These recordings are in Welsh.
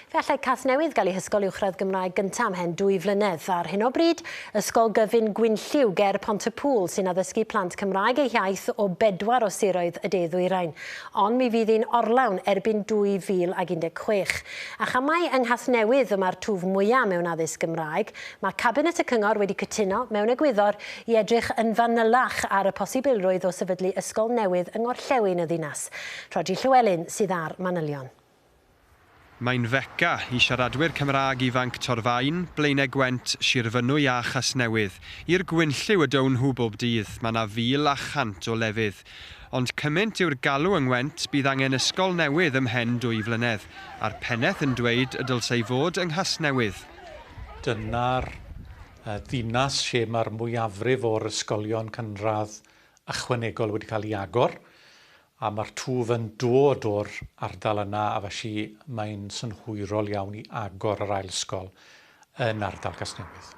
Fe allai Casnewydd gael ei hysgol uwchradd Gymraeg gyntaf ymhen dwy flynedd. Ar hyn o bryd, Ysgol Gyfun Gwynlliw ger Pont-y-pŵl sy'n addysgu plant Cymraeg eu hiaith o bedwar o siroedd y de-ddwyrain. Ond mi fydd hi'n orlawn erbyn 2016. A chan mai yng Nghasnewydd y mae'r twf mwyaf mewn addysg Gymraeg, mae Cabinet y Cyngor wedi cytuno, mewn egwyddor, i edrych yn fanylach ar y posibilrwydd o sefydlu ysgol newydd yng Ngorllewin y ddinas. Rhodri Llewelyn sydd â'r manylion. Mae'n Fecca i siaradwyr Cymraeg ifanc Torfaen, Blaenau Gwent, Sir Fynwy a Chasnewydd. I'r gwynllyw y down nhw bob dydd, mae 'na fil a chant o lefydd. Ond cymynt yw'r galw yng Ngwent, bydd angen ysgol newydd ymhen dwy flynedd. A'r pennaeth yn dweud y dylsai fod yng Nghasnewydd. Dyna'r ddinas lle mae'r mwyafrif o'r ysgolion cynradd ychwanegol wedi cael eu agor. A ma'r twf yn dod o'r ardal yna a felly mae'n synhwyrol iawn i agor yr ail ysgol yn ardal Casnewydd.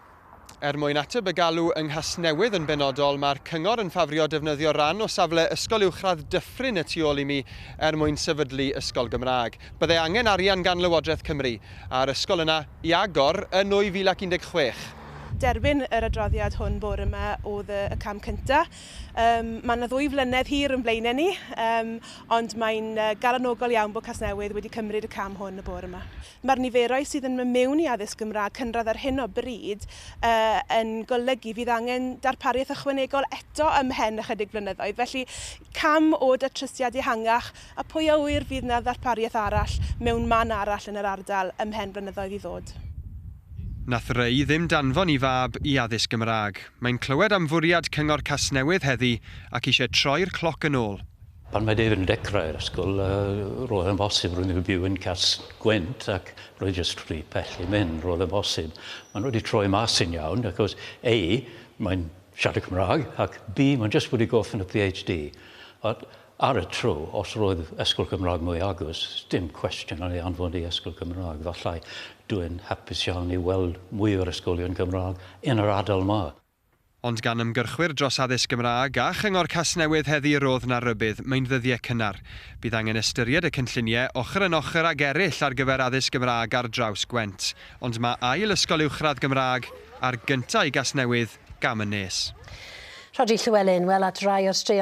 Er mwyn ateb y galw yng Nghasnewydd yn benodol, mae'r cyngor yn ffafrio defnyddio ran o safle Ysgol Uwchradd Dyffryn y tu ôl i mi er mwyn sefydlu ysgol Gymraeg. Bydde angen arian gan Lywodraeth Cymru a'r ysgol yna i agor yn 2016. Derbyn yr adroddiad hwn bore 'ma oedd y cam cyntaf. Yym, mae 'na ddwy flynedd hir yn blaenau ni, yym, ond mae'n galonogol iawn bod Casnewydd wedi cymryd y cam hwn y bore yma. Mae'r niferoedd sydd yn mynd mewn i addysg Gymraeg cynradd ar hyn o bryd yy yn golygu fydd angen darpariaeth ychwanegol eto ymhen ychydig blynyddoedd, felly cam o datrysiad ehangach, a pwy a ŵyr fydd 'na ddarpariaeth arall mewn man arall yn yr ardal ymhen flynyddoedd i ddod. Nath Ray ddim danfon 'i fab i addysg Gymraeg. Mae'n clywed am fwriad Cyngor Casnewydd heddi ac eisiau troi'r cloc yn ôl. Pan mae David yn dechrau'r ysgol, roedd e'n bosib roedd e'n byw yn Cas-gwent ac roedd jyst rhy pell i mynd, roedd e'n bosib. Maen nhw wedi troi mas yn iawn achos A, mae'n siarad Cymraeg ac B, mae'n jyst wedi gorffen y PhD. Ar y tro, os roedd ysgol Gymraeg mwy agos, dim cwestiwn yn ei anfon i ysgol Gymraeg. Falle, dw i'n hapus iawn i weld mwy o'r ysgolion Gymraeg yn yr ardal 'ma. Ond gan ymgyrchwyr dros addysg Gymraeg a Chyngor Casnewydd heddi rodd 'na rybudd, mae'n ddyddiau cynnar. Bydd angen ystyried y cynlluniau, ochr yn ochr ag eraill ar gyfer addysg Gymraeg ar draws Gwent. Ond mae ail ysgol uwchradd Gymraeg, a'r gyntaf i Gasnewydd, gam yn nes. Rhodri Llewelyn, wel at rai o'r straeon